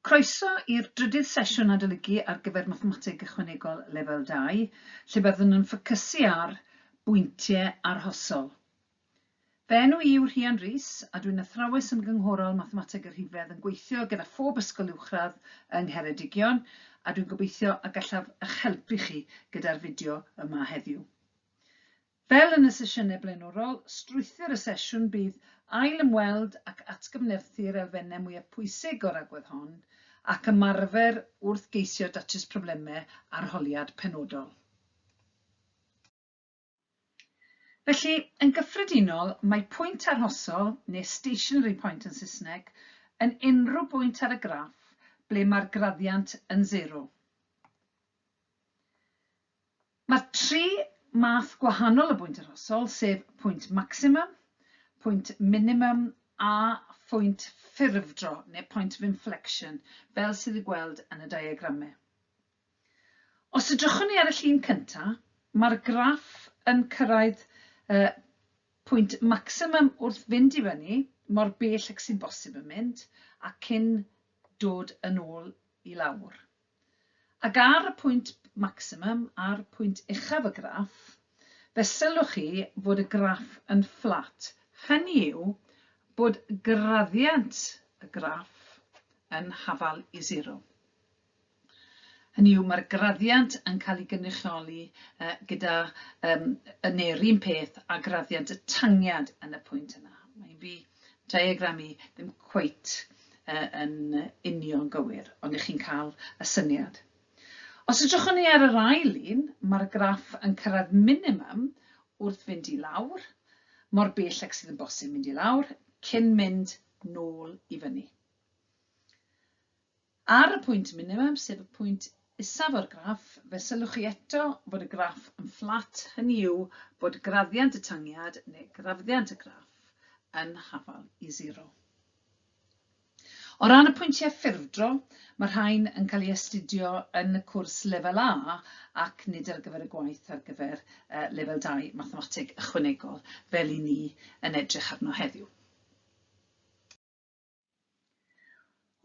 Croeso i'r drydydd sesiwn adolygu ar gyfer Mathemateg Ychwanegol Lefel 2, lle byddwn yn ffocysu ar bwyntiau arhosol. Fy enw i yw Rhian Rees, a dwi'n Athrawes Ymgynghorol Mathemateg y Rhifedd yn gweithio gyda phob ysgol uwchradd yng Ngheredigion, a dwi'n gobeithio y gallaf eich helpu chi gyda'r fideo yma heddiw. Fel yn y sesiynau blaenorol, strwythur y sesiwn bydd ail-ymweld ac atgyfnerthu'r elfennau mwyaf pwysig o'r agwedd hon ac ymarfer wrth geisio datrys problemau arholiad penodol. Felly, yn gyffredinol, mae pwynt arhosol, neu stationary point yn Saesneg, yn unrhyw bwynt ar y graff ble mae'r graddiant yn sero. Mae tri math gwahanol o bwynt arhosol, sef pwynt maximum, pwynt minimum a phwynt ffurfdro neu point of inflection, fel sydd i'w gweld yn y diagramau. Os edrychwn ni ar y llun cyntaf, mae'r graff yn cyrraedd uh, pwynt maximum wrth fynd i fyny, mor bell ac sy'n bosib yn mynd, a cyn dod yn ôl i lawr. Ac ar y pwynt maximum, a'r pwynt uchaf y graff, fe sylwch chi fod y graff yn fflat, hynny yw bod graddiant y graff yn hafal i sero. Hynny yw, mae'r graddiant yn cael ei gynrychioli gyda, neu'r un peth a graddiant y tangiad yn y pwynt yna. Mae hi'n rhy diagram i ddim cweit yn union gywir, ond i chi'n cael y syniad. Os edrychwn ni ar yr ail un, mae'r graff yn cyrraedd minimum wrth fynd i lawr, mor bell ac sydd yn bosib mynd i lawr, cyn mynd nôl i fyny. Ar y pwynt minimum, sef y pwynt isaf o'r graff, fe sylwch chi eto bod y graff yn fflat, hynny yw bod graddiant y tangiad neu graddiant y graff yn hafal i zero. O ran y pwyntiau ffurfdro, mae rhain yn cael eu astudio yn y cwrs Lefel A ac nid ar gyfer y gwaith ar gyfer Lefel Dau, Mathemateg Ychwanegol, fel y'n ni yn edrych arno heddiw.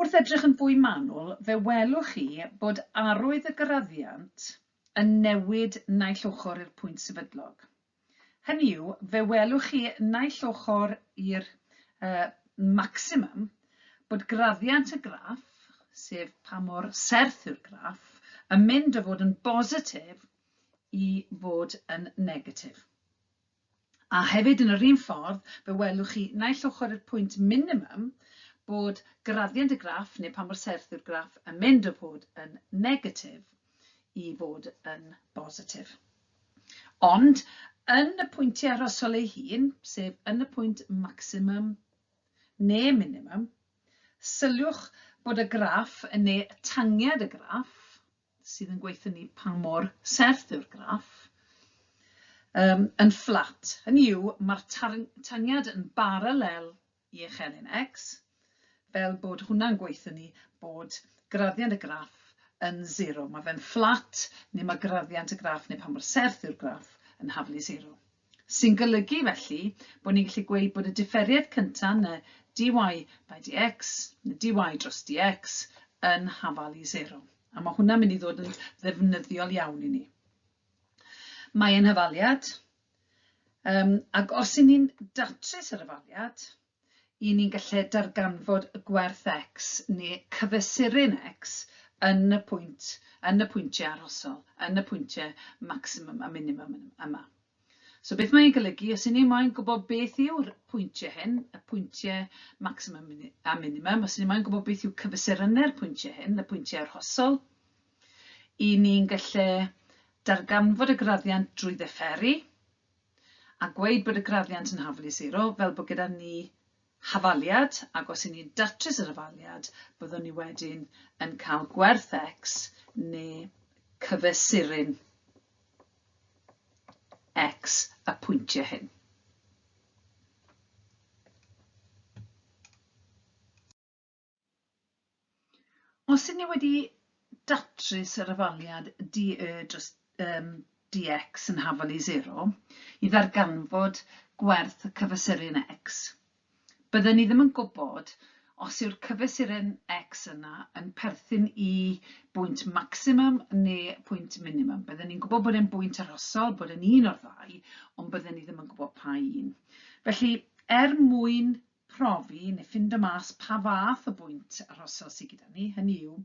Wrth edrych yn fwy manwl, fe welwch chi bod arwydd y graddiant yn newid naill ochr i'r pwynt sefydlog. Hynny yw, fe welwch chi naill ochr i'r uh, maximum bod graddiant y graff, sef pa mor serth yw'r graff, yn mynd o fod yn bositif i fod yn negatif. A hefyd yn yr un ffordd, fe welwch chi naill ochr i'r pwynt minimum bod graddiant y graff neu pa mor serth yw'r graff yn mynd o fod yn negatif i fod yn bositif. Ond yn y pwyntiau arhosol eu hun, sef yn y pwynt maximum neu minimum, syliwch bod y graff neu tangiad y graff, sydd yn gweithio ni pa mor serth yw'r graff, yn fflat. Hynny yw, mae'r tangiad yn baralel i eich elyn X, fel bod hwnna'n gweithio ni bod graddiant y graff yn sero. Mae fe'n fflat, neu mae graddiant y graff, neu pa mor serth yw'r graff, yn haflu sero. Sy'n golygu, felly, bod ni'n gallu gweud bod y diferiad cyntaf, na dy by dx, na dy dros dx, yn hafal i sero. A mae hwnna'n mynd i ddod yn ddefnyddiol iawn i ni. Mae ein hafaliad, Yym, ac os y'n ni'n datrys yr ofaliad, y'n ni'n gallu darganfod y gwerth X neu cyfesuru'n X yn y pwynt, yn y pwyntiau arhosol, yn y pwyntiau maximum a minimum yma. So beth mae'n golygu, os y'n ni moyn gwybod beth yw'r pwyntiau hyn, y pwyntiau maximum a minimum, os y'n ni moyn gwybod beth yw cyfesurynnau'r pwyntiau hyn, y pwyntiau arhosol, 'Y ni'n gallu darganfod y graddiant drwy ddifferu a gweud bod y graddiant yn hafal i sero, fel bod gyda ni hafaliad, ac os 'yn ni'n datrys yr hafaliad, byddwn ni wedyn yn cael gwerth x neu cyfesurin x y pwyntiau hyn. Os ydyn ni wedi datrys yr afaliad DE dros um, DX yn hafal i 0 i ddarganfod gwerth y cyfesurin X, bydden ni ddim yn gwybod os yw'r cyfesurin X yna yn perthyn i bwynt maximum neu pwynt minimum. Bydden ni'n gwybod bod e'n bwynt arhosol, bod e'n un o'r ddau, ond bydden ni ddim yn gwybod pa un. Felly, er mwyn profi neu ffindo mas pa fath o bwynt arhosol sy gyda ni, hynny yw,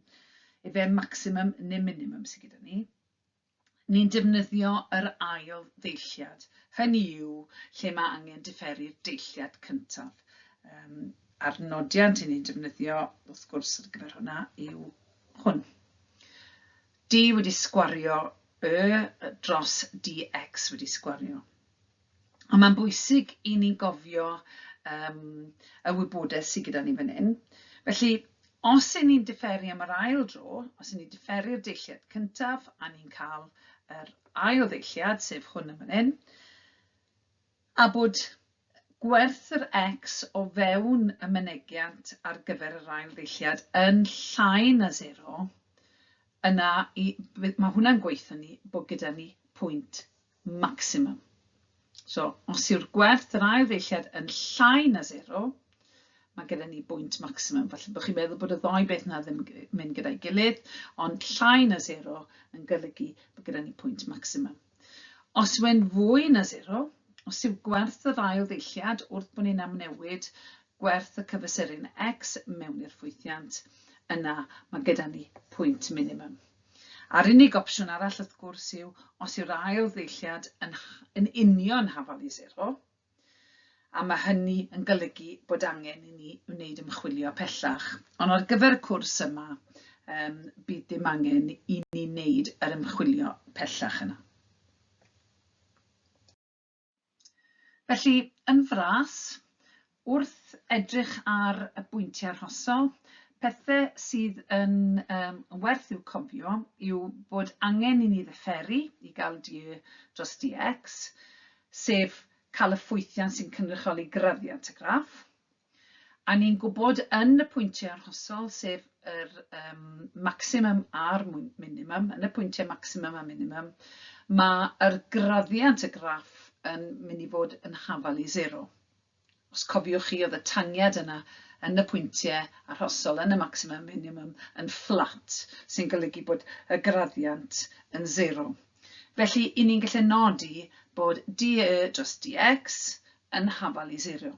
efe maximum neu minimum sy gyda ni, ni'n defnyddio yr ail ddeilliad, hynny yw, lle mae angen diferu'r deilliad cyntaf. Um, a'r nodiant i ni'n defnyddio, wrth gwrs, ar gyfer hwnna yw hwn. D wedi sgwario y dros dx wedi sgwario. A mae'n bwysig i ni gofio um, y wybodaeth sydd gyda ni fan hyn. Felly, os y'n ni'n diferu am yr ail dro, os y'n ni'n diferu'r deilliad cyntaf a ni'n cael yr ail ddeilliad, sef hwn yn fan hyn, a bod gwerth yr x o fewn y mynegiant ar gyfer yr ail ddilliad yn llai na 0, yna i, mae hwnna'n gweithio ni bod gyda ni pwynt maximum. So, os yw'r gwerth yr ail ddeilliad yn llai na 0, mae gyda ni bwynt maximum. Felly, bod chi'n meddwl bod y ddoi beth yna ddim mynd gyda'i gilydd, ond llai na 0 yn golygu bod gyda ni pwynt maximum. Os yw'n fwy na 0, os yw gwerth yr ail ddeilliad wrth bod ni'n amnewid gwerth y cyfesurin x mewn i'r ffwythiant, yna mae gyda ni pwynt minimum. A'r unig opsiwn arall wrth gwrs yw os yw'r ail ddeilliad yn yn union hafal i sero, a mae hynny yn golygu bod angen i ni wneud ymchwilio pellach. Ond ar gyfer y cwrs yma, um, bydd dim angen i ni wneud yr ymchwilio pellach yna. Felly, yn fras, wrth edrych ar y bwyntiau arhosol, pethe sydd yn um, werth i'w cofio yw bod angen i ni ddefferu i gael du dros DX, sef cael y ffwythiant sy'n cynrychioli graddiant y graff, A ni'n gwybod yn y pwyntiau arhosol, sef yr um, maximum a'r minimum, yn y pwyntiau maximum a minimum, mae yr graddiant y graff yn mynd i fod yn hafal i zero. Os cofiwch chi, oedd y tangiad yna yn y pwyntiau arhosol, yn y maximum minimum, yn fflat, sy'n golygu bod y graddiant yn zero. Felly, i ni'n gallu nodi bod dE dros dx yn hafal i zero.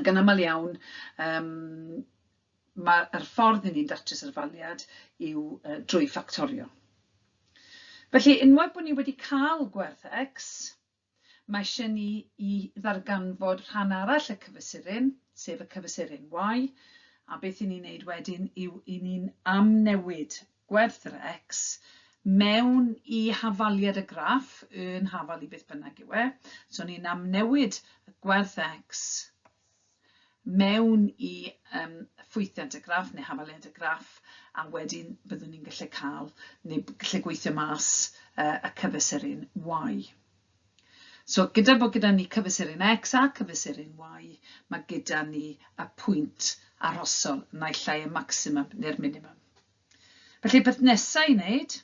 Ac yn aml iawn, um, mae'r ffordd i ni'n datrys yr faliad yw uh, drwy ffactorio. Felly, unwaith bod ni wedi cael gwerth X, mae eisiau ni i ddarganfod rhan arall y cyfesurin, sef y cyfesurin Y, a beth i ni'n neud wedyn yw i ni'n amnewid gwerth-rex mewn i hafaliad y graff, yn hafal i beth bynnag yw e, so ni'n amnewid y gwerth-rex mewn i um, ffwythiant y graff neu hafaliad y graff, a wedyn byddwn ni'n gallu cael, neu gallu gweithio mas uh, y cyfesurin y Y. So, gyda bod gyda ni cyfesurin X a cyfesurin Y, mae gyda ni y pwynt arhosol naill ai y maximum neu'r minimum. Felly, peth nesaf i wneud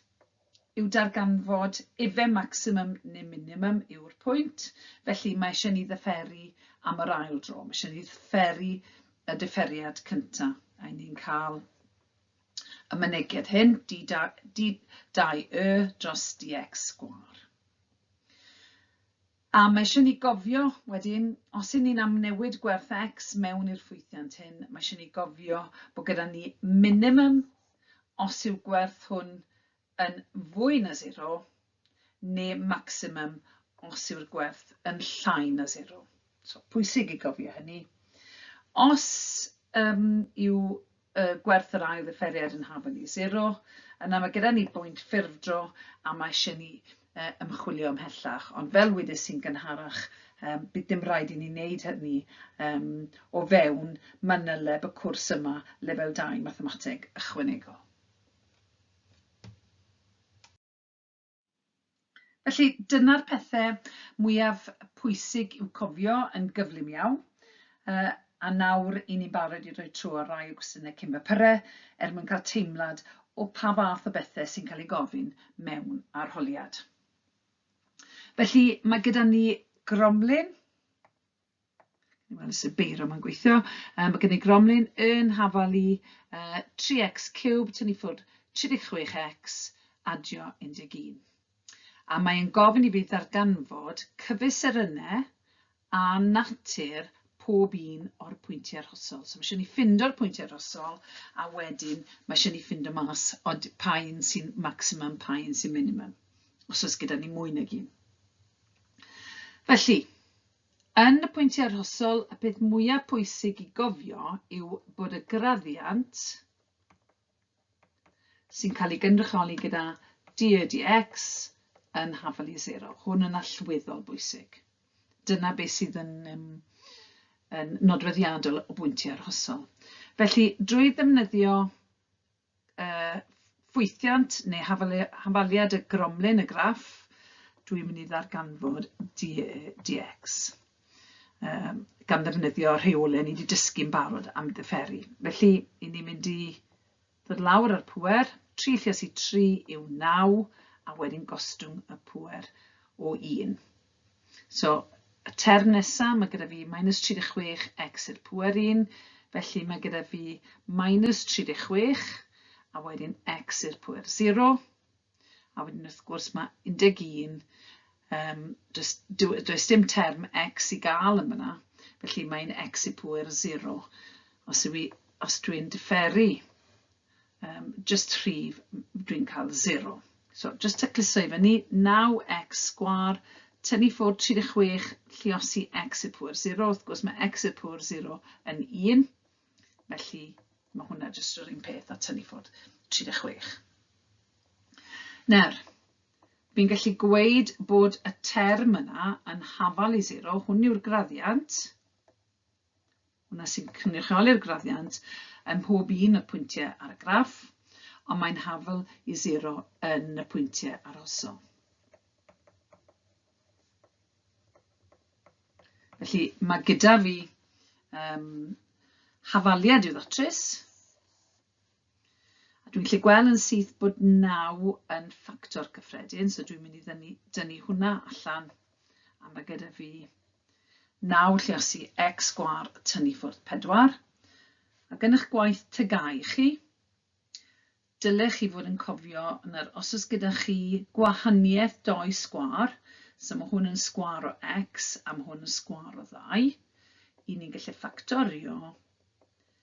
yw darganfod efe maximum neu minimum yw'r pwynt, felly mae eisiau ni ddyferu am yr ail dro, mae eisiau ni ddyferu y differiad cyntaf, a ni'n cael y mynegiad hyn, D2Y dros DX sgwâr. A mae eisiau ni gofio wedyn, os y'n ni'n amnewid gwerth X mewn i'r ffwythiant hyn, mae eisiau ni gofio bod gyda ni minimum os yw'r gwerth hwn yn fwy na sero, ne' maximum os yw'r gwerth yn llai na sero. So, pwysig i gofio hynny. Os um, yw y gwerth yr ail ddifferiad yn hafan i sero, yna mae gyda ni bwynt ffurfdro a mae eisiau ni uh, ymchwilio ymhellach. Ond fel wydys i'n gynharach, um, bydd dim rhaid i ni wneud hynny um, o fewn manyleb y cwrs yma, lefel 2 mathemateg ychwanegol. Felly, dyna'r pethe mwyaf pwysig i'w cofio yn gyflym iawn. Uh, a nawr i ni'n barod i roi tro ar rai o gwestiynau cyn fy pyre, er mwyn cael teimlad o pa fath o bethau sy'n cael ei gofyn mewn arholiad. Felly, mae gyda ni gromlin Wel, sut beiro mae'n gweithio. Um, mae gen i gromlin yn hafal i uh, 3x cube, tynnu ffwrdd 36x, adio 11. A mae'n gofyn i fi ddarganfod cyfesurynnau a natur pob un o'r pwyntiau rhosol. So mae eisiau ni ffindo'r pwyntiau rhosol a wedyn mae eisiau ni ffindo mas o pa un sy'n maximum, pa un sy'n minimum, os oes gyda ni mwy nag un. Felly, yn y pwyntiau arhosol, y peth mwyaf pwysig i gofio yw bod y graddiant sy'n cael ei gynrychioli gyda DEDX yn hafal i sero. Hwn yn allweddol bwysig. Dyna beth sydd yn, um, yn nodweddiadol o bwyntiau arhosol. Felly, drwy ddefnyddio ffwythiant neu hafaliad y gromlin, y graff, dwi'n mynd i ddarganfod DX um, gan ddefnyddio rheolau ni wedi dysgu'n barod am ddifferi. Felly, i ni'n mynd i ddod lawr ar pwer, 3 lles i 3 yw 9, a wedyn gostwng y pwer o 1. So, y term nesaf, mae gyda fi minus 36 x i'r pwer 1, felly mae gyda fi minus 36, a wedyn x i'r pwer 0, a wedyn wrth gwrs mae 11, um, does, does dim term x i gael yn fyna, felly mae'n x i pwer 0. Os, os dwi'n differu um, jyst rhif, dwi'n cael 0. So, jyst tacluso i fyny, 9x sgwar, tynnu ffwrdd 36, lliosi x i'r pwyr 0. Wrth gwrs, mae x i'r pwyr 0 yn 1. Felly, mae hwnna jyst yr un peth a tynnu ffwrdd 36. Nawr, fi'n gallu gweud bod y term yna yn hafal i 0. Hwn yw'r graddiant. Hwnna sy'n cynrychioli'r graddiant ym mhob un o'r pwyntiau ar y graff, ond mae'n hafl i sero yn y pwyntiau arhosol. Felly mae gyda fi um, hafaliad i'w ddatrys, A dwi'n gallu gweld yn syth bod 9 yn ffactor cyffredin, so dwi'n mynd i dynnu, dynnu hwnna allan. A mae gyda fi 9 lle os i x gwar tynnu ffwrdd 4. A gen eich gwaith tygau chi, dylech chi fod yn cofio yn yr os oes gyda chi gwahaniaeth doi sgwar, so mae hwn yn sgwar o x a mae hwn yn sgwar o ddau, i ni'n gallu ffactorio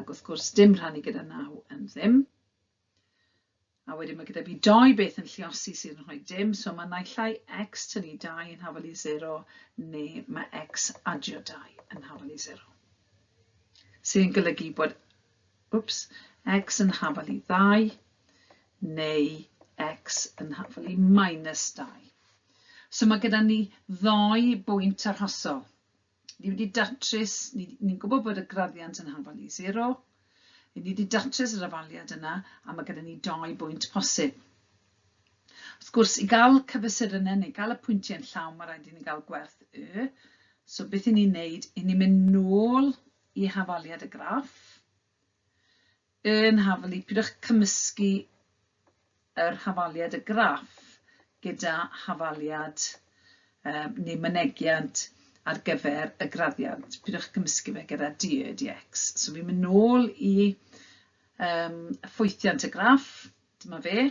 Ac wrth gwrs, dim rhannu gyda naw yn ddim. A wedyn mae gyda fi doi beth yn lliosi sydd yn rhoi dim, so mae naill ai x tynnu 2 yn hafal i 0 neu mae x adio 2 yn hafal i 0. Sydd yn golygu bod wps, x yn hafal i 2 neu x yn hafal i minus 2. So mae gyda ni ddoi bwynt arhosol. Ni wedi datrys, ni, ni'n gwybod bod y graddiant yn hafal i zero. Ni wedi datrys yr afaliad yna a mae gyda ni dau bwynt posib. Wrth gwrs, i gael cyfesurynnau neu gael y pwyntiau yn llawn, mae rhaid i ni gael gwerth y. So beth i ni'n neud? I ni'n mynd nôl i hafaliad y graff. Yn hafali, pidwch cymysgu yr hafaliad y graff gyda hafaliad um, neu mynegiant ar gyfer y graddiant. Pidwch cymysgu fe gyda DEDX. So fi'n mynd nôl i um, ffwythiant y graff, dyma fe.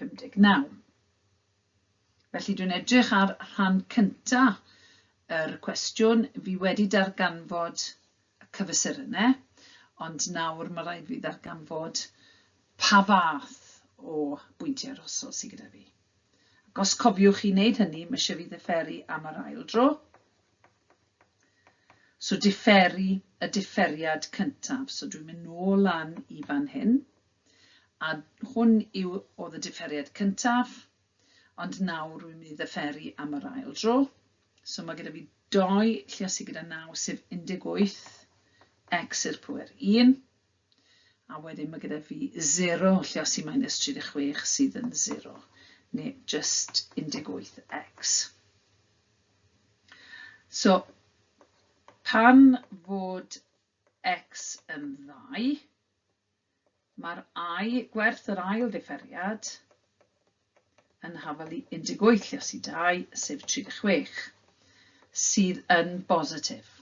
59. Felly dwi'n edrych ar rhan cynta yr cwestiwn, fi wedi darganfod y cyfesurynnau, ond nawr mae rhaid fi ddarganfod pa fath o bwyntiau arhosol sydd gyda fi. Ac os cofiwch chi wneud hynny, mae eisiau fi ddifferu am yr ail dro. So differu y differiad cyntaf. So dwi'n mynd nôl lan i fan hyn. A hwn yw oedd y diferiad cyntaf, ond nawr rwy'n mynd i ddyferu am yr ail dro. So mae gyda fi doi lle sydd gyda 9 sef 18 x i'r pwer 1. A wedyn mae gyda fi 0 lle sydd minus 36 sydd yn 0 neu just 18x. So pan fod x yn ddau, Mae'r ai gwerth yr ail ddifferiad yn hafal i 18 lles i 2, sef 36, sydd yn bositif.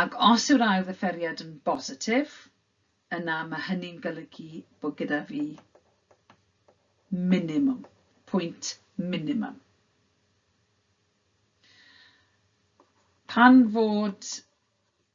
Ac os yw'r ail ddifferiad yn bositif, yna mae hynny'n golygu bod gyda fi minimum, pwynt minimum. Pan fod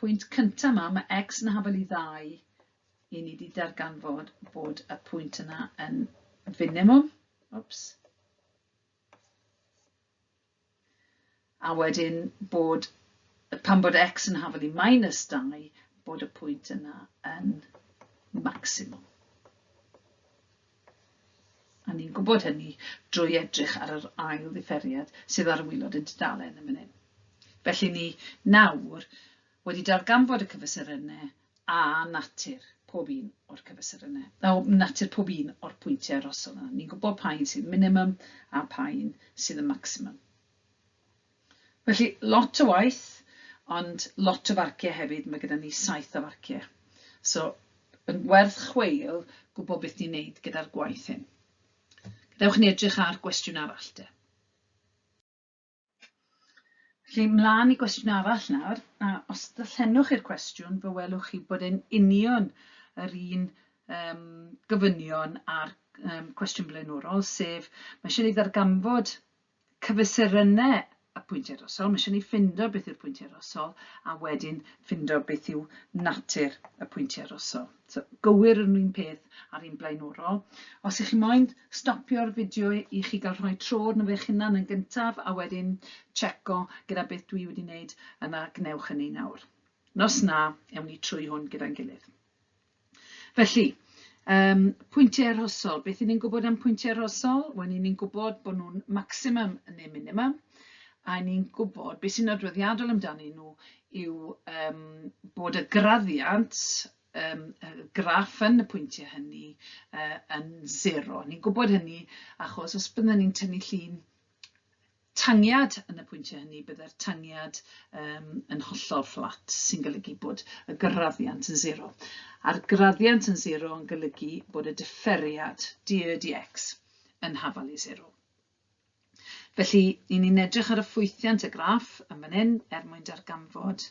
Pwynt cynta ma, ma X yn hafal i ddau, i ni di darganfod bod y pwynt yna yn finimwm. Wps. A wedyn bod, pan bod X yn hafal i minus dau, bod y pwynt yna yn maximwm. A ni'n gwybod hynny drwy edrych ar yr ail ddifferiad sydd ar y waelod yn tudalen yn fan hyn. Felly ni nawr wedi darganfod y cyfesurynnau a natur pob un o'r cyfesurynnau, o, natur pob un o'r pwyntiau rhosol yna. Ni'n gwybod pa un sydd minimum a pa un sydd yn maximum. Felly, lot o waith, ond lot o farciau hefyd, mae gyda ni saith o farciau. So, yn werth chweil gwybod beth ni'n neud gyda'r gwaith hyn. Gadewch ni edrych ar gwestiwn arall de. Felly, mlaen i gwestiwn arall nawr, a os ddallenwch i'r cwestiwn, fe welwch chi bod e'n union yr un um, gofynion a'r um, cwestiwn blaenorol, sef mae eisiau ei ddarganfod cyfesurynnau y pwyntiau drosodd, mae eisiau ni ffindo beth yw'r pwyntiau drosodd, a wedyn ffindo beth yw natur y pwyntiau drosodd. So, gywir yr un peth a'r un blaenorol. Os ych chi moyn stopio'r fideo i chi gael rhoi tro arno fe hunan yn gyntaf, a wedyn checo gyda beth dwi wedi wneud, yna gwnewch hynny nawr. Nos na, ewn ni trwy hwn gyda'n gilydd. Felly, yym, pwyntiau arhosol. Beth i ni'n gwybod am pwyntiau arhosol? Wel, i ni'n gwybod bod nhw'n maximum neu minimum, a ni'n gwybod beth sy'n adroddiadol amdanyn nhw yw um, bod y graddiant um, y graff yn y pwyntiau hynny uh, yn zero. Ni'n gwybod hynny achos os byddwn ni'n tynnu llun tangiad yn y pwyntiau hynny, byddai'r tangiad um, yn hollol fflat, sy'n golygu bod y graddiant yn zero. A'r graddiant yn zero yn golygu bod y differiad dr dx yn hafal i zero. Felly, i ni'n edrych ar y ffwythiant y graff yn fan hyn er mwyn darganfod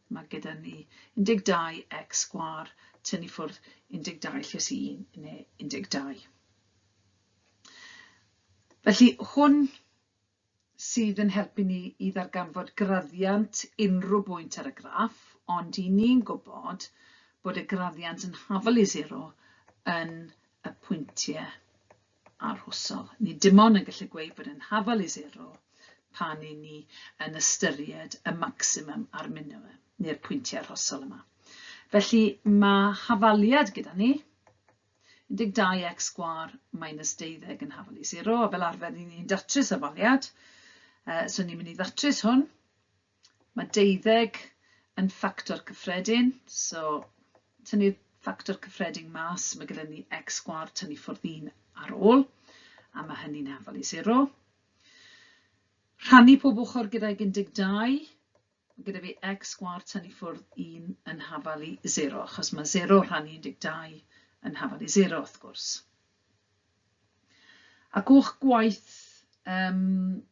Mae gyda ni 12 x sgwâr, tynnu ffwrdd 12 lles 1 neu 12. Felly hwn sydd yn helpu ni i ddarganfod graddiant unrhyw bwynt ar y graff, ond i ni'n gwybod bod y graddiant yn hafal i 0 yn y pwyntiau arhosol. Ni dim ond yn gallu gweud bod yn hafal i sero pan i ni yn ystyried y maximum a'r minimum, neu'r pwyntiau arhosol yma. Felly mae hafaliad gyda ni, 12x sgwar minus 12 yn hafal i 0, a fel arfer ni'n ni'n datrys afaliad, uh, so ni'n mynd i ddatrys hwn, Mae deuddeg yn ffactor cyffredin, so tynnu'r ffactor cyffredin mas, mae gyda ni x sgwar tynnu ffwrdd 1 ar ôl, a mae hynny'n hafal i 0. Rhannu pob ochr gyda'i 12, mae gyda fi x sgwar tynnu ffwrdd 1 yn hafal i 0, achos mae 0 rhannu 12 yn hafal i 0 wrth gwrs. Ac o'ch gwaith um,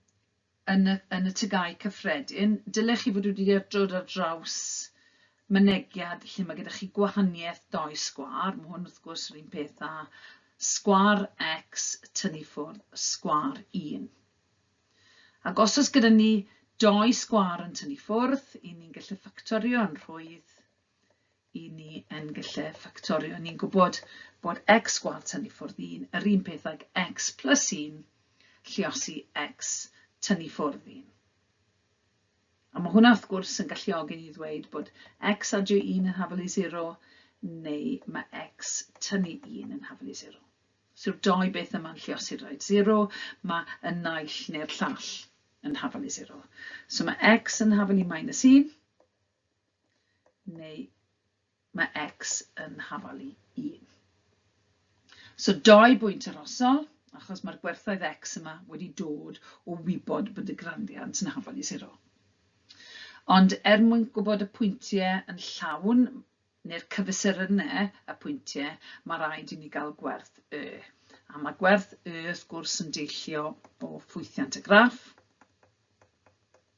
yn y yn y Tygau Cyffredin, dyle chi fod wedi dod ar draws mynegiad lle mae gyda chi gwahaniaeth dou sgwâr, mae hwn wrth gwrs yr un peth â sgwâr X tynnu ffwrdd sgwâr 1. Ac os oes gyda ni dou sgwâr yn tynnu ffwrdd, 'yn ni'n gallu ffactorio yn rhwydd i ni yn gallu ffactorio. Ni'n gwybod bod x gwal tynnu ffwrdd 1 yr un peth ag x plus 1 lliosi x tynnu ffwrdd 1. A mae hwnna wrth gwrs yn galluogi ni ddweud bod x adio 1 yn hafel i 0 neu mae x tynnu 1 yn hafel i 0. Os yw'r dou beth yma'n lliosi'r rhaid 0, mae y naill neu'r llall yn hafel i 0. So mae x yn hafel i minus 1, neu mae x yn hafal i 1. So dau bwynt arosol, achos mae'r gwerthoedd x yma wedi dod o wybod bod y grandiant yn hafal i 0. Ond er mwyn gwybod y pwyntiau yn llawn, neu'r cyfesurynau y pwyntiau, mae rhaid i ni gael gwerth y. A mae gwerth y, wrth gwrs, yn deillio o ffwythiant y graff.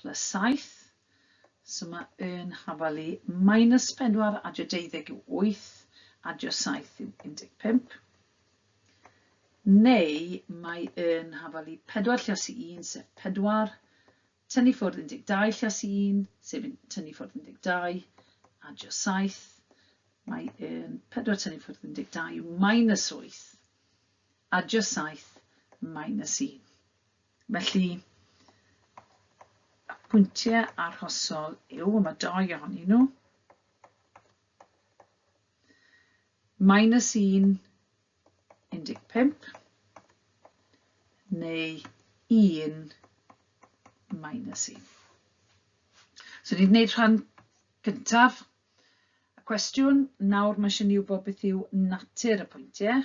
Plus saith. So mae yn hafal i minus pedwar, adio deuddeg yw wyth, adio saith yw un deg pump. Neu mae yn hafal i pedwar llios i un, sef pedwar, tynnu ffwrdd 12 llios i un, sef tynnu ffwrdd 12, adio saith, mae yn pedwar tynnu ffwrdd 12 yw minus wyth, adio saith, minus un. Felly, y pwyntiau arhosol yw, y mae dou ohonyn nhw, minus 1, 15, neu 1, minus 1. So, ni'n gwneud rhan gyntaf y cwestiwn. Nawr mae eisiau ni wybod beth yw natur y pwyntiau.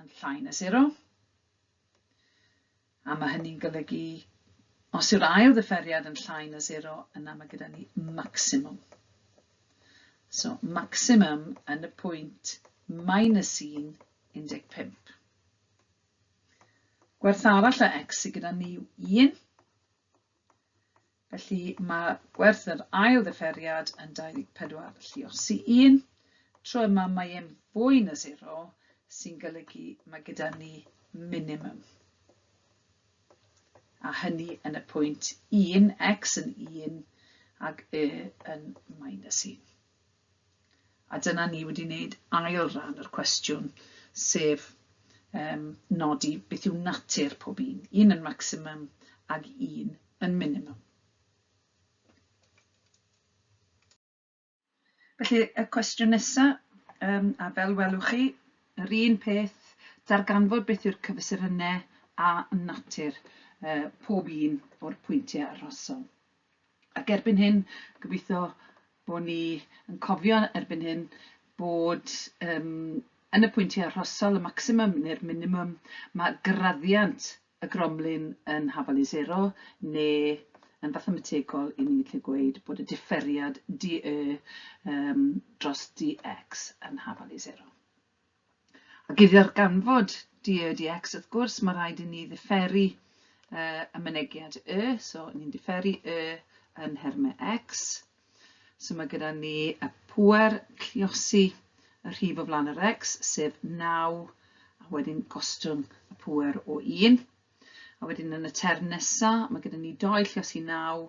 yn llai na sero, a mae hynny'n golygu os yw'r ail ddifferiad yn llai na sero, yna mae gyda ni maximum. So, maximum yn y pwynt minus 1, 15. Gwerth arall o x sydd gyda ni yw 1, Felly mae gwerth yr ail ddiferiad yn 24 lluo'r sy 1. Tro yma mae e'n fwy na sero, sy'n golygu mae gyda ni minimum. A hynny yn y pwynt 1, x yn 1 ac y yn minus 1. A dyna ni wedi wneud ail ran yr cwestiwn, sef um, nodi beth yw natur pob un, un yn maximum ag un yn minimum. Felly, y cwestiwn nesaf, um, a fel welwch chi, yr un peth, darganfod beth yw'r cyfesurynnau a natur uh, pob un o'r pwyntiau arhosol. Ac erbyn hyn, gobeithio Bo ni yn cofio erbyn hyn bod yym yn y pwyntiau arhosol, y maximum neu'r minimum, mae graddiant y gromlin yn hafal i sero, neu yn fathemategol, i ni gallu gweud bod y diferiad DE yym dros DX yn hafal i sero. Ac i ddarganfod dy y, dy x, wrth gwrs, mae rhaid i ni ddifferu uh, y mynegiad y, so ni'n differu y yn nhermau x. So mae gyda ni y pwer lliosi y rhif o flaen yr x, sef 9, a wedyn gostwng y pwer o 1. A wedyn yn y term nesaf, mae gyda ni 2 lliosi 9,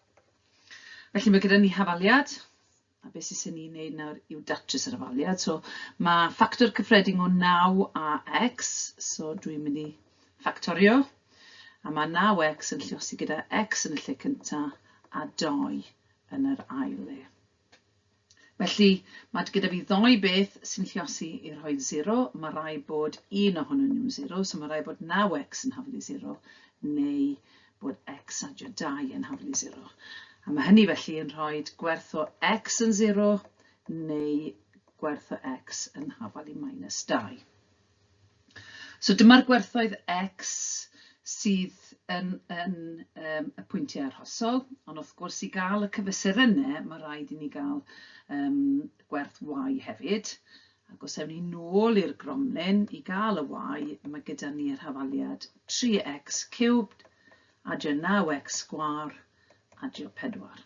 Felly mae gyda ni hafaliad, a beth sy'n ni'n neud nawr yw datrys yr hafaliad. So mae ffactor cyffredin o 9 a x, so dwi'n mynd i ffactorio, a mae 9x yn lliosi gyda x yn y lle cyntaf a 2 yn yr ail le. Felly, mae gyda fi ddoi beth sy'n lliosi i rhoi 0, mae rai bod un ohonyn nhw'n 0, so mae rai bod 9x yn haflu 0, neu bod x a 2 yn haflu 0. A mae hynny felly yn rhoi gwerth o x yn 0, neu gwerth o x yn hafal i minus 2. So dyma'r gwerthoedd X sydd yn, yn um, y pwyntiau arhosol, ond wrth gwrs i gael y cyfesurynnau, mae rhaid i ni gael um, gwerth Y hefyd. Ac os ewn ni nôl i'r gromlin i gael y Y, mae gyda ni yr hafaliad 3x cubed, adio 9x sgwar, adio 4.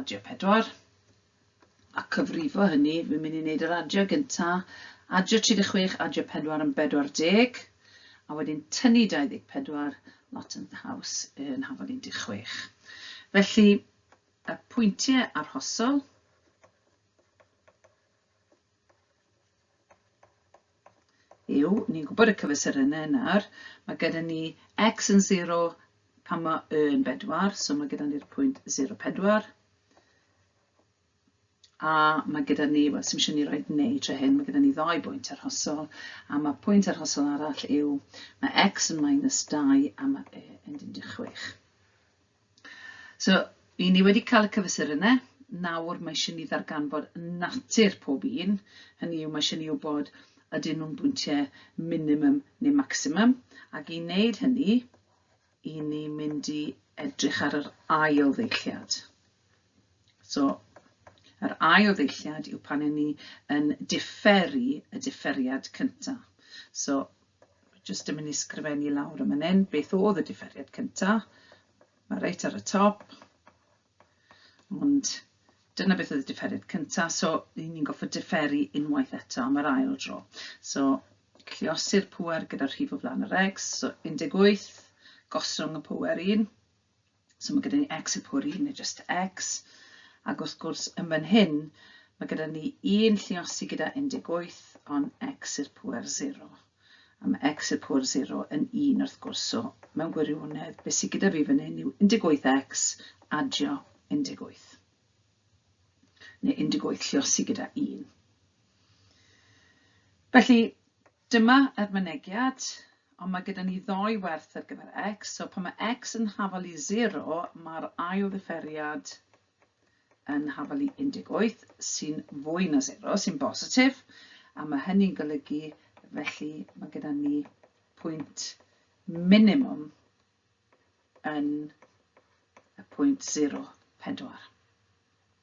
Adio pedwar. A cyfrifo hynny, fi'n mynd i wneud yr adio gynta. Adio 36, adio pedwar yn bedwar deg. A wedyn tynnu 24, lot yn ddaws yn hafod 16. Felly, y pwyntiau arhosol, yw, ni'n gwybod y cyfesurynau nawr, mae gyda ni x yn 0 pan mae y yn 4, so mae gyda ni'r pwynt 0, 4. A mae gyda ni, wel, sy'n eisiau ni roi neu tre hyn, mae gyda ni ddau bwynt arhosol, a mae pwynt arhosol arall yw, mae x yn minus 2 a mae y yn 16. So, i ni wedi cael y cyfesurynnau, nawr mae eisiau ni ddarganfod natur pob un, hynny yw mae eisiau ni wybod ydyn nhw'n bwyntiau minimum neu maximum, ac i wneud hynny, i ni mynd i edrych ar yr ail ddeilliad. So, yr ail ddeilliad yw pan i ni yn differu y differiad cyntaf. So, Jyst yn mynd i sgrifennu lawr y man hyn, beth oedd y diferiad cynta? Mae reit ar y top. Ond dyna beth oedd y diferiad cynta, so ry'n ni'n goffa diferu unwaith eto am yr ail dro. So, lliosi'r pwer gyda'r rhif o flaen yr egs, so 18, gosrwng y pwer 1, So mae gyda ni x y pwri, neu just x. Ac wrth gwrs, yn fan hyn, mae gyda ni un lliosi gyda 18, ond x i'r pwer 0. A mae x i'r pwer 0 yn 1 wrth gwrs. So mewn gwirionedd, beth sydd gyda fi fan hyn yw 18x adio 18. Neu 18 lliosi gyda 1. Felly, Dyma yr mynegiad, ond mae gyda ni ddou werth ar gyfer x, so pan mae x yn hafal i 0, mae'r ail ddifferiad yn hafal i 18, sy'n fwy na 0, sy'n bositif, a mae hynny'n golygu, felly mae gyda ni pwynt minimum yn y pwynt 0, 4.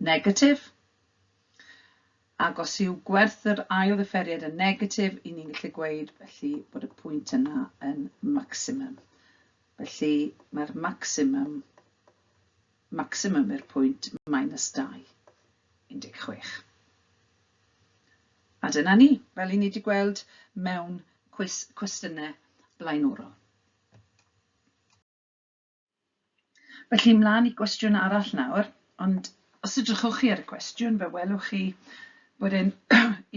Negatif. Ac os yw gwerth yr ail ddifferiad yn negatif, i ni'n gallu gweud felly bod y pwynt yna yn maximum. Felly mae'r maximum, maximum i'r pwynt minus 2, 16. A dyna ni, fel i ni wedi gweld mewn cwis cwestiynau blaenorol. Felly, mlaen i gwestiwn arall nawr, ond os edrychwch chi ar y cwestiwn, fe welwch chi bod e'n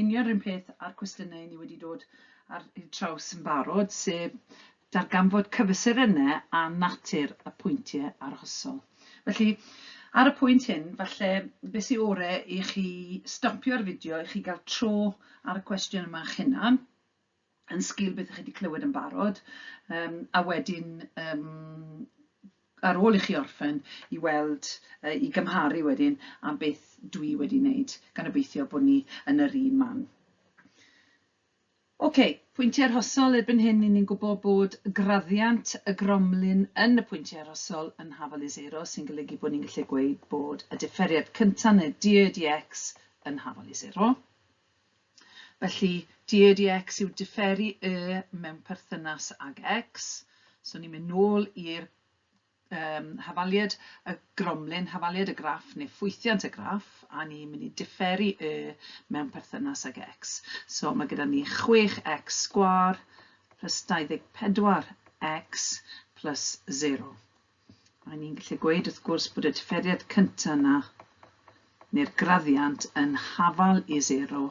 union rhywun peth a'r cwestiynau ni wedi dod ar eu traws yn barod, sef darganfod cyfesurynnau a natur y pwyntiau arhosol. Felly, ar y pwynt hyn, falle beth sy'n ore i chi stopio'r fideo, i chi gael tro ar y cwestiwn yma eich hunan, yn sgil beth chi wedi clywed yn barod, um, a wedyn um, ar ôl i chi orffen i weld, uh, i gymharu wedyn am beth dwi wedi wneud, gan obeithio bod ni yn yr un man. Oce, okay, pwyntiau arhosol erbyn hyn, ni'n gwybod bod graddiant y gromlin yn y pwyntiau arhosol yn hafal i zero, sy'n golygu bod ni'n gallu gweud bod y differiad cyntaf neu DEDX yn hafal i zero. Felly, DADX yw diferu Y mewn perthynas ag X. So ni'n mynd nôl i'r um, hafaliad, y gromlin hafaliad, y graff neu ffwythiant y graff, a ni'n mynd i diferu Y mewn perthynas ag X. So mae gyda ni 6X sgwar plus 24X plus 0. Mae ni'n gallu gweud wrth gwrs bod y diferiad cyntaf yna, neu'r graddiant yn hafal i sero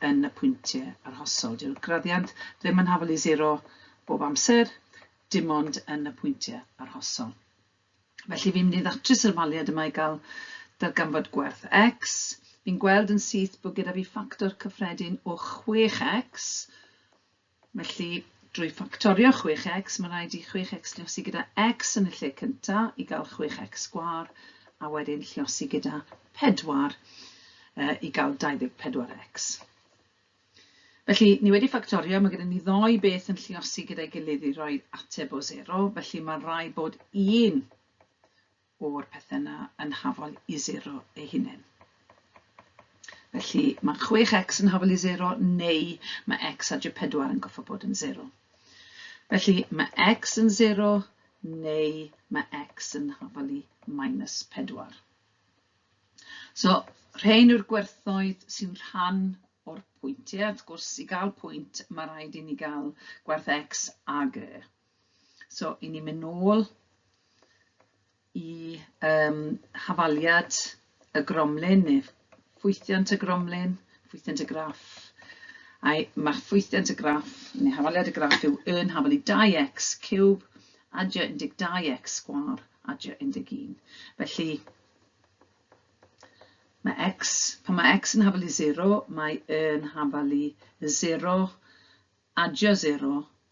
yn y pwyntiau arhosol. Dyw'r graddiant ddim yn hafal i sero bob amser, dim ond yn y pwyntiau arhosol. Felly fi'n mynd i ddatrys yr ymhaliad yma i gael darganfod gwerth x. Fi'n gweld yn syth bod gyda fi ffactor cyffredin o 6x, Felly, drwy ffactorio 6x, mae'n rhaid i 6x lluosi gyda x yn y lle cyntaf i gael 6x sgwâr, a wedyn lluosi gyda 4 i gael 24x. Felly, ni wedi ffactorio, mae gyda ni ddoi beth yn lliosi gyda'i gilydd i roi ateb o 0, felly mae'n rhaid bod un o'r pethe yna yn hafol i sero ei hunen. Felly mae 6x yn hafol i sero neu mae x a G4 yn goffa bod yn sero. Felly mae x yn sero neu mae x yn hafol i minus 4. So, rhain yw'r gwerthoedd sy'n rhan o'r pwyntiau. Wrth gwrs, i gael pwynt, mae rhaid i ni gael gwerth x a g. So, i ni'n mynd nôl i um, hafaliad y gromlin neu ffwythiant y gromlin, ffwythiant y graff. A'i, mae ffwythiant y graff neu hafaliad y graff yw yn hafalu 2x cwb adja 12x sgwar adja 11. Felly, mae x, pan mae x yn hafalu 0, mae yn hafalu 0 adja 0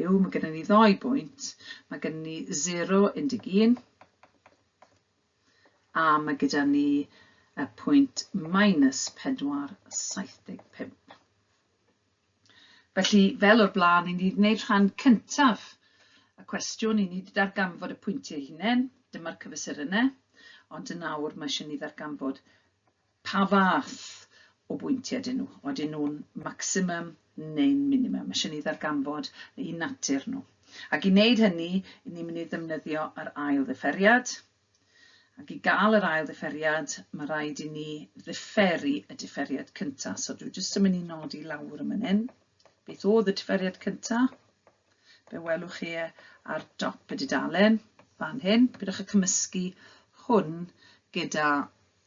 yw, mae gennym ni ddoi bwynt, mae gennym ni 0, 11, a mae gyda ni y pwynt minus 4, 75. Felly, fel o'r blaen, i ni wedi gwneud rhan cyntaf y cwestiwn, i ni wedi darganfod y pwyntiau hunain, dyma'r cyfesurynnau, ond yn awr mae eisiau ni ddarganfod Pa fath o bwyntiau ydyn nhw? Odyn nhw'n maximum neu'n minimum? Mae isie ni ddarganfod eu natur nhw. Ac i wneud hynny, i ni'n mynd i ddefnyddio yr ail ddifferiad. Ac i gael yr ail ddifferiad, mae rhaid i ni ddifferu y differiad cyntaf. So dwi jyst yn mynd i nodi lawr yn mynd hyn. Beth oedd y differiad cyntaf? Be welwch chi e ar dop y dudalen fan hyn? Pidwch y cymysgu hwn gyda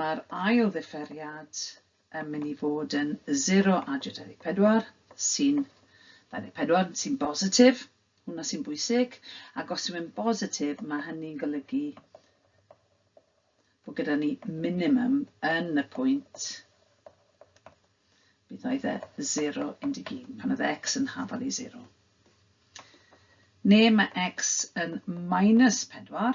Mae'r ail ddifferiad yn mynd i fod yn 0 a 24 sy'n 24 sy'n bositif, hwnna sy'n bwysig, ac os yw'n bositif mae hynny'n golygu bod gyda ni minimum yn y pwynt bydd oedd e 0, 11, pan oedd x yn hafal i 0. Neu mae x yn minus 4,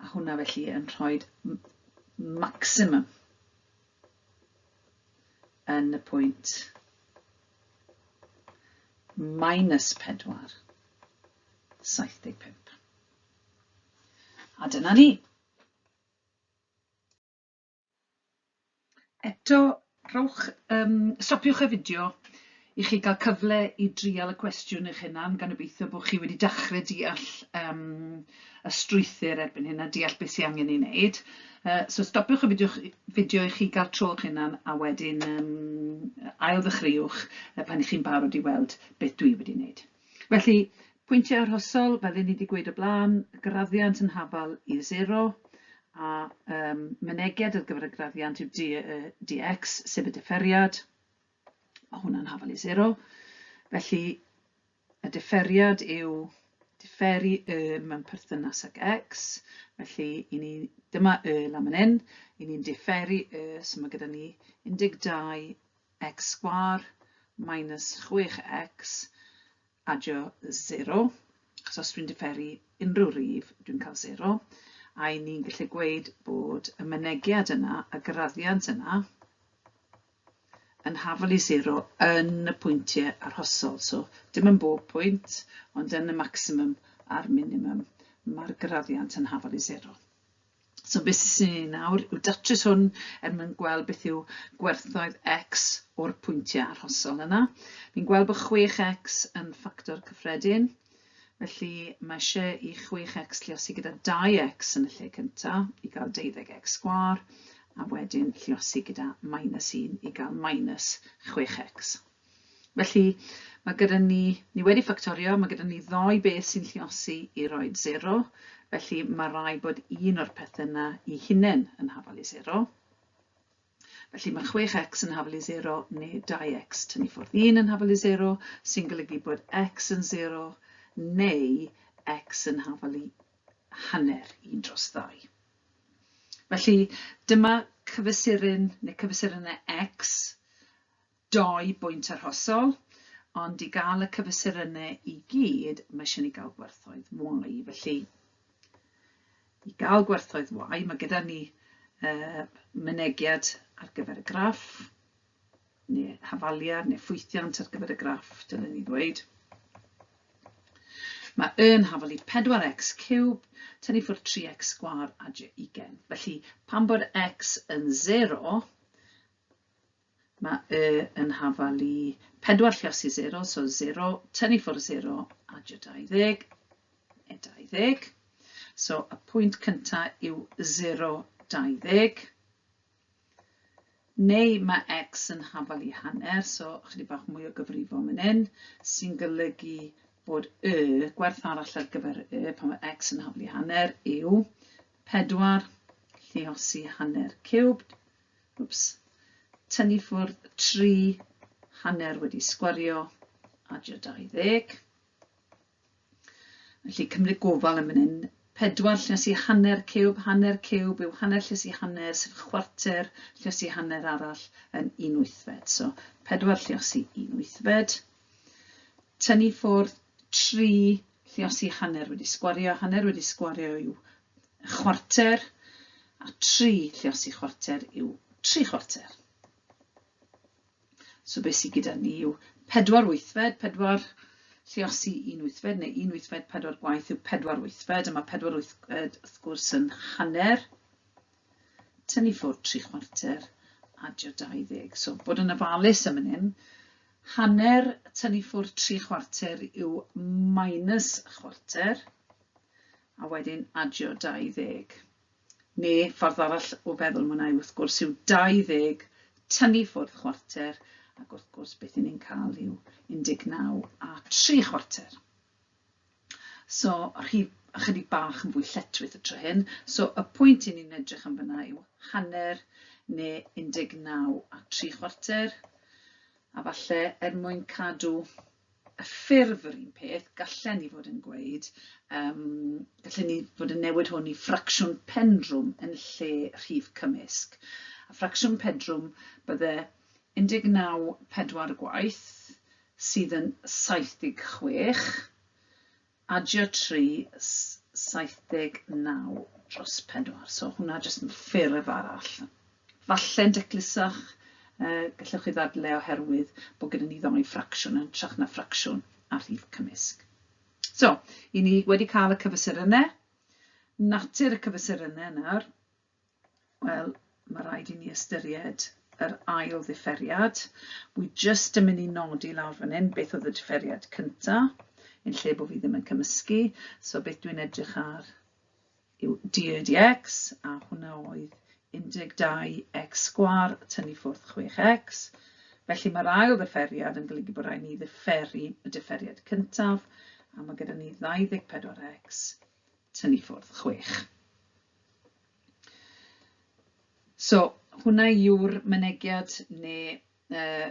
A hwnna felly yn rhoi maximum yn y pwynt minus 4, 75. A dyna ni. Eto, rhowch yym... stopiwch y fideo i chi gael cyfle i drial y cwestiwn eich hunan, gan obeithio bod chi wedi dechrau deall yym y strwythur erbyn hyn a deall beth sydd angen ei wneud. Yy so stopiwch y fideo chi- fideo i chi gael tro eich hunan a wedyn yym ail-ddechreuwch pan 'y chi'n barod i weld beth dwi wedi wneud. Felly, pwyntiau arhosol, fel 'yn ni 'di gweud o blaen, graddiant yn hafal i sero, a yym mynediad ar gyfer y graddiant yw dy y dy ecs, sef y diferiad, ma' hwnna'n hafal i sero. Felly, y diferiad yw diferu y mewn perthynas ag ecs, felly i ni, dyma y lan man 'yn, i ni'n diferu y, so ma' gyda ni 12 x sgwâr minus 6x adio 0, achos os dwi'n diferu unrhyw rif, dwi'n cael 0, a i ni'n gallu gweud bod y mynegiad yna, y graddiant yna, yn hafal i 0 yn y pwyntiau arhosol. So, dim yn bob pwynt, ond yn y maximum a'r minimum, mae'r graddiant yn hafal i 0. So beth sy'n sy'n ei nawr yw datrys hwn er mwyn gweld beth yw gwerthoedd x o'r pwyntiau arhosol yna. Ni'n gweld bod 6x yn ffactor cyffredin, felly mae eisiau i 6x lliosi gyda 2x yn y lle cyntaf i gael 12x sgwar, a wedyn lliosi gyda minus 1 i gael minus 6x. Felly, mae gyda ni, ni wedi ffactorio, mae gyda ni ddoi beth sy'n lliosi i roi zero, felly mae rai bod un o'r pethau yna i hunain yn hafal i zero. Felly mae 6x yn hafal i 0 neu 2x tynnu ffwrdd 1 yn hafal i 0, sy'n golygu bod x yn 0 neu x yn hafal i hanner 1 dros 2. Felly dyma cyfesurin neu cyfesurynau x Dau bwynt arhosol, ond i gael y cyfesurynnau i gyd, mae eisiau ni gael gwerthoedd Y. Felly, i gael gwerthoedd Y, mae gyda ni uh, mynegiad ar gyfer y graff, neu hafaliad, neu ffwythiant ar gyfer y graff, dylen ni ddweud. Mae y yn hafal i 4x cube, tynnu ffwrdd 3x sgwar a 20. Felly, pan bod x yn 0, Mae y yn hafal i pedwar lleos i zero, so zero, tynnu ffwrdd zero, adio 20, neu 20. So y pwynt cynta yw zero, 20. Neu mae x yn hafal i hanner, so chydig bach mwy o gyfrifo yn un, sy'n golygu bod y gwerth arall ar gyfer y pan mae x yn hafal i hanner yw 4 lleosi hanner cubed Wps. Tynnu ffwrdd tri hanner wedi sgwario adio 20. Felly cymryd gofal yn fan hyn. Pedwar lluosi hanner ciwb, hanner ciwb yw hanner lluosi hanner, sef chwarter lluosi hanner arall yn un wythfed. So, pedwar lluosi un wythfed. Tynnu ffwrdd tri lluosi hanner wedi sgwario. Hanner wedi sgwario yw chwarter, a 3 lliosi chwarter yw 3 chwarter. So beth sydd gyda ni yw 4 wythfed, 4 lliosi un wythfed, neu un wythfed pedwar gwaith yw pedwar wythfed, a mae pedwar wythfed wrth gwrs yn hanner, tynnu ffwrdd tri chwarter, adio 20. So bod yn ofalus am hyn, hanner tynnu ffwrdd tri chwarter yw minus chwarter, a wedyn adio 20. Neu ffordd arall o feddwl mwynhau wrth gwrs yw 20 tynnu ffwrdd chwarter ac wrth gwrs beth 'yn ni'n cael yw 19 a tri chwarter. So rhif ychydig bach yn fwy lletchwith y tro hyn. So y pwynt 'yn ni'n edrych am fyna yw hanner neu 19 a tri chwarter a falle er mwyn cadw ffurf yr un peth, gallen ni fod yn gweud, um, gallen ni fod yn newid hwn i ffracsiwn pendrwm yn lle rhif cymysg. A ffracsiwn pedrwm bydde 19 pedwar gwaith sydd yn 76 Adio tri saith deg naw dros pedwar. So hwnna jyst yn ffurf arall. Falle'n daclusach, gallwch chi ddadle oherwydd bod gyda ni ddoi ffracsiwn yn hytrach na ffracsiwn a rhif cymysg. So, i ni wedi cael y cyfesurynnau, natur y cyfesurynnau nawr, Wel, mae rhaid i ni ystyried yr ail ddifferiad. Wi jyst yn mynd i nodi lawr fan hyn beth oedd y differiad cynta, yn lle bod fi ddim yn cymysgu. So beth dwi'n edrych ar yw dx, a hwnna oedd 12x sgwar tynnu ffwrdd 6x. Felly mae'r ail ddifferiad yn golygu bod rhaid ni ddifferu y differiad cyntaf, a mae gyda ni 24x tynnu ffwrdd 6. So, hwnna yw'r mynegiad neu yy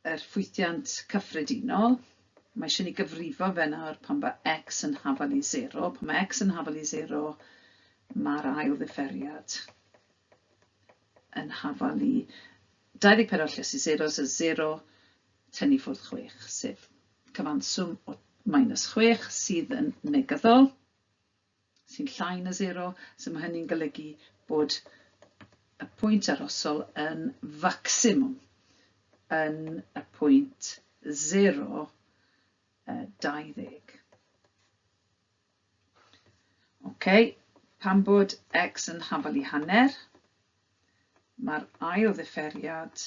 yr ffwythiant cyffredinol. Mae eisiau ni gyfrifo fe nawr pan mae x yn hafal i 0. Pan mae x yn hafal i 0, mae'r ail ddifferiad yn hafal i 24 lles i 0, so 0 tynnu ffwrdd 6, sef cyfanswm o minus 6 sydd yn negyddol. sy'n llai na sero, so mae hynny'n golygu bod y pwynt arosol yn facsimwm yn y pwynt 0, 20. OK, pan bod x yn hafal i hanner, mae'r ail ddifferiad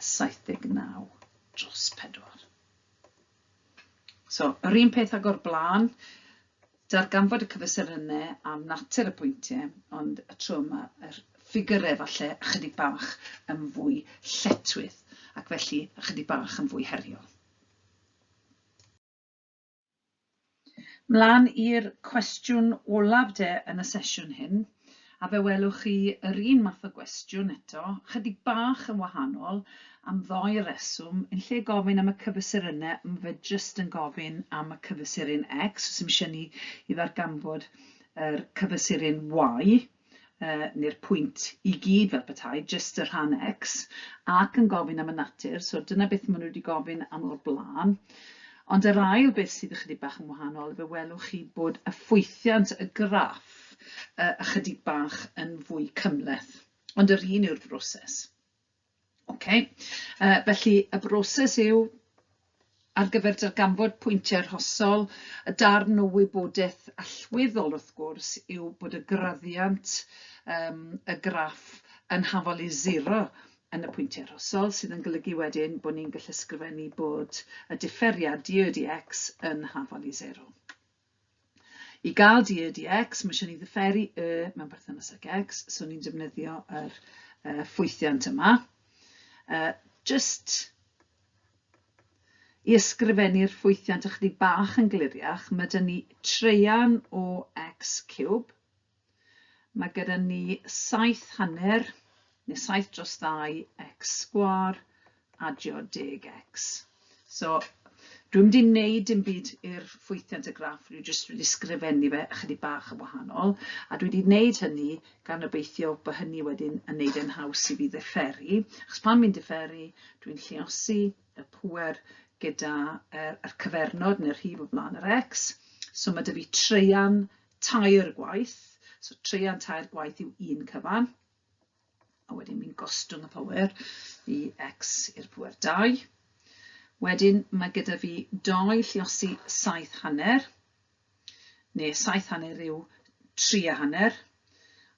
79 dros 4. So, yr un peth ag o'r blaen, darganfod y cyfesurynnau a natur y pwyntiau, ond y tro yma yr ffigurau falle ychydig bach yn fwy lletwydd ac felly ychydig bach yn fwy heriol. Mlaen i'r cwestiwn olaf de yn y sesiwn hyn, a fe welwch chi yr un math o gwestiwn eto, chydig bach yn wahanol, am ddou reswm, yn lle gofyn am y cyfystyr yna, mae fe jyst yn gofyn am y cyfystyr yn X, os ym eisiau ni i ddarganfod yr cyfystyr yn Y, neu'r pwynt i gyd fel petai, jyst y rhan X, ac yn gofyn am y natur, so dyna beth maen nhw wedi gofyn am o'r blaen. Ond yr ail beth sydd ychydig bach yn wahanol, fe welwch chi bod y ffwythiant y graff ychydig bach yn fwy cymhleth, ond yr un yw'r broses. Ok, yy felly y broses yw ar gyfer darganfod pwyntiau arhosol, y darn o wybodaeth allweddol wrth gwrs yw bod y graddiant yym y graff yn hafal i sero yn y pwyntiau arhosol, sydd yn golygu wedyn bod ni'n gallu ysgrifennu bod y diferiad DODX yn hafal i sero. I gael dy y, dy x, mae eisiau ni ddyferu y mewn perthynas ag x, so ni'n defnyddio yr uh, ffwythiant yma. Uh, just i ysgrifennu'r ffwythiant ychydig bach yn gliriach, mae dyn ni treian o x cube, Mae gyda ni saith hanner, neu saith dros ddau, x sgwar, adio deg x. So, dwi'n mynd i wneud dim byd i'r ffwythiant y graff, dwi'n jyst wedi sgrifennu fe ychydig bach yn wahanol, a dwi wedi wneud hynny gan obeithio bod hynny wedyn yn wneud e'n haws i fi ddifferu, achos pan fi'n differu, dwi'n lliosi y pŵer gyda er, er cyfernod neu'r rhif o flaen yr x, so mae dy fi treian tair gwaith, so treian tair gwaith yw un cyfan, a wedyn fi'n gostwng y power i x i'r power 2. Wedyn mae gyda fi doi lliosi saith hanner, neu saith hanner yw tri a hanner,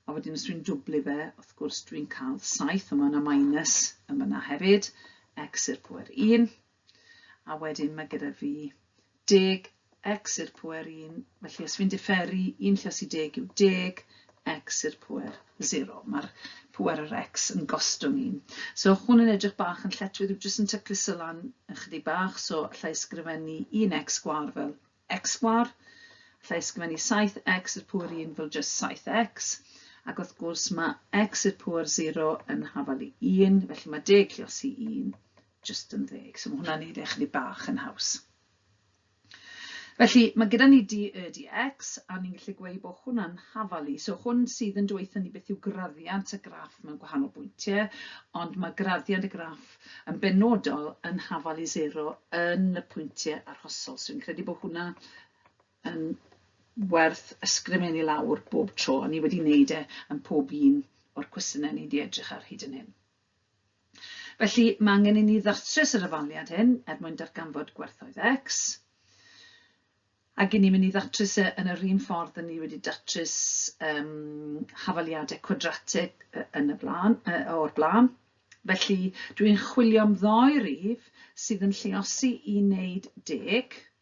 a wedyn os dwi'n dwblu fe, wrth gwrs dwi'n cael saith, a mae yna minus yma hefyd, x i'r power 1. A wedyn mae gyda fi deg x i'r pwer 1, felly os fi'n diferu 1 lles i deg yw deg x i'r pwer 0. Mae'r pwer yr x yn gostwng 1. So hwn yn edrych bach yn lletwydd, yw jyst yn tyclus y lan ychydig bach, so allai ysgrifennu 1x sgwar fel x sgwar, allai ysgrifennu 7x i'r pwer 1 fel jyst 7x, ac wrth gwrs mae x i'r pwer 0 yn hafal i 1, felly mae deg lles i 1 Jyst yn ddeg. So mae hwnna'n neud e chydig bach yn haws. Felly, mae gyda ni dy y dy x, a ni'n gallu gweud bod hwnna'n hafalu. So hwn sydd yn dweithio ni beth yw graddiant y graff mewn gwahanol bwyntiau, ond mae graddiant y graff yn benodol yn hafalu zero yn y pwyntiau arhosol. So fi'n credu bod hwnna yn werth ysgrifennu lawr bob tro, a ni wedi wneud e yn pob un o'r cwestiynau ni wedi edrych ar hyd yn hyn. Felly, mae angen i ni ddatrys yr hafaliad hyn er mwyn darganfod gwerthoedd X. Ac i ni'n mynd i ddatrys e yn yr un ffordd y ni wedi datrys um, hafaliadau cwadratig yn y blaen, o'r blaen. Felly, dwi'n chwilio am ddoi rif sydd yn lleosi i wneud deg,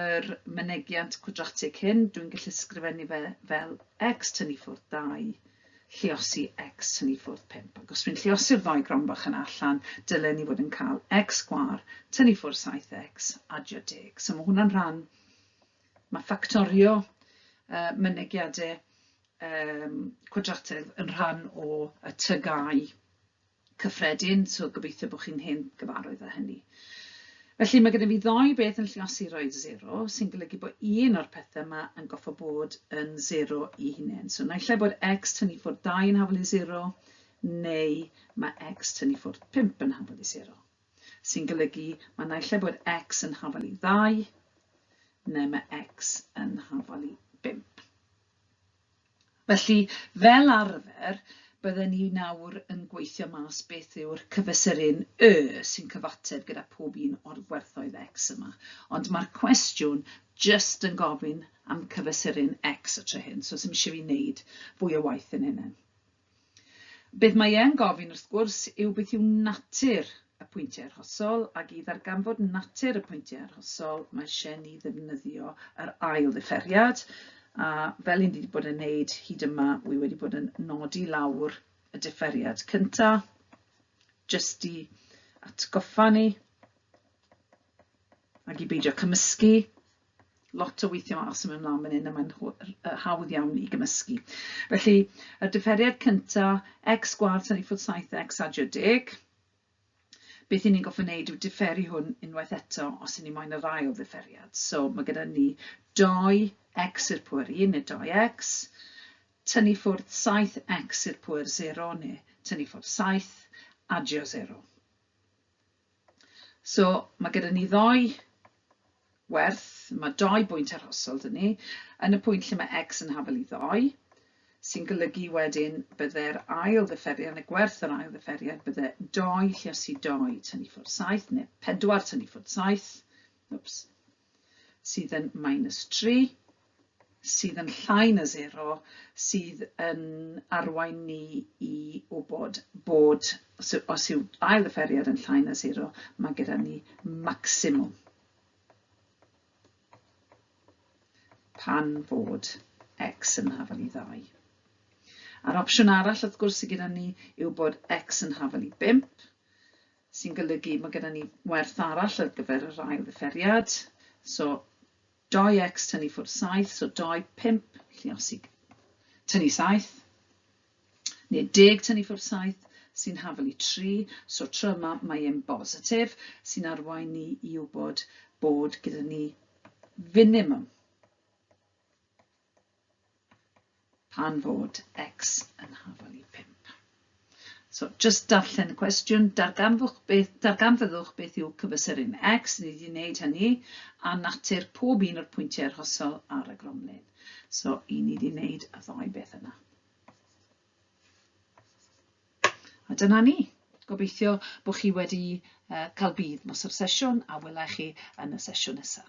yr mynegiant cwadratig hyn, dwi'n gallu sgrifennu fe fel x tynnu ffwrdd 2, lliosi x tynnu ffwrdd 5. Ac os dwi'n lliosi'r ddoi gron bach yna allan, dylen ni fod yn cael x sgwar tynnu ffwrdd 7x adio deg. So mae hwnna'n rhan, mae ffactorio uh, mynegiadau um, cwadratig yn rhan o y tygau cyffredin, so gobeithio bod chi'n hen gyfarwydd â hynny. Felly mae gyda fi ddoi beth yn lliosi roed zero, sy'n golygu bod un o'r pethau yma yn goffa bod yn zero i hunain. So naill ai bod x tynnu ffwrdd 2 yn hafol i zero, neu mae x tynnu ffwrdd 5 yn hafol i zero. Sy'n golygu mae naill ai bod x yn hafol i ddau, neu mae x yn hafol i 5. Felly, fel arfer, bydden ni nawr yn gweithio mas beth yw'r cyfesurin Y sy'n cyfateb gyda pob un o'r gwerthoedd X yma. Ond mae'r cwestiwn jyst yn gofyn am cyfesurin X y tro hyn, so 'sdim isie fi wneud fwy o waith yn hynny. Beth mae e'n gofyn, wrth gwrs, yw beth yw natur y pwyntiau arhosol, ac i ddarganfod natur y pwyntiau arhosol, mae eisiau ni ddefnyddio yr ail ddifferiad, a fel un wedi bod yn neud hyd yma, wy wedi bod yn nodi lawr y differiad cynta, jyst i atgoffa ni, ac i beidio cymysgu, lot o weithio a symud ymlaen fan hyn a mae'n hawdd iawn i gymysgu. Felly, y diferiad cynta, x gwad tan i ffwrdd 7x adio deg. Beth i ni'n goffa wneud yw diferu hwn unwaith eto os i ni moyn yr ail ddiferiad. So mae gyda ni 2x i'r pwyr 1 neu 2x, tynnu ffwrdd 7x i'r pwyr 0 neu tynnu ffwrdd 7, adio 0. So mae gyda ni ddoi werth, mae doi bwynt arhosol dyn ni, yn y pwynt lle mae x yn hafel i ddoi, sy'n golygu wedyn bydde'r ail ddyfferiad, y gwerth yr ail ddyfferiad, bydde 2 lleosi 2 tynnu ffwrdd 7, neu 4 tynnu ffwrdd 7, oops, sydd yn minus 3. sydd yn llai na sero sydd yn arwain ni i wybod bod os yw, os yw ail offeriad yn llai na sero, mae gyda ni maximum pan fod x yn hafel i ddau. A'r opsiwn arall wrth gwrs sydd gyda ni yw bod x yn hafel i bimp, sy'n golygu mae gyda ni werth arall ar gyfer yr ail ddiferiad, so Dau x tynnu ffwrdd saith, so dau, pump, lluosi tynnu saith, neu deg tynnu ffwrdd saith, sy'n hafel i tri, so tro yma mae e'n bositif, sy'n arwain ni i wybod bod gyda ni finimwm. pan fod x yn hafal i 5. So, just darllen y cwestiwn, darganfwch beth, darganfyddwch beth yw cyfysuryn x, ni wedi wneud hynny, a natur pob un o'r pwyntiau arhosol ar y gromlin. So, i ni wedi wneud y ddau beth yna. A dyna ni. Gobeithio bod chi wedi uh, cael bydd nos o'r sesiwn a welai chi yn y sesiwn nesaf.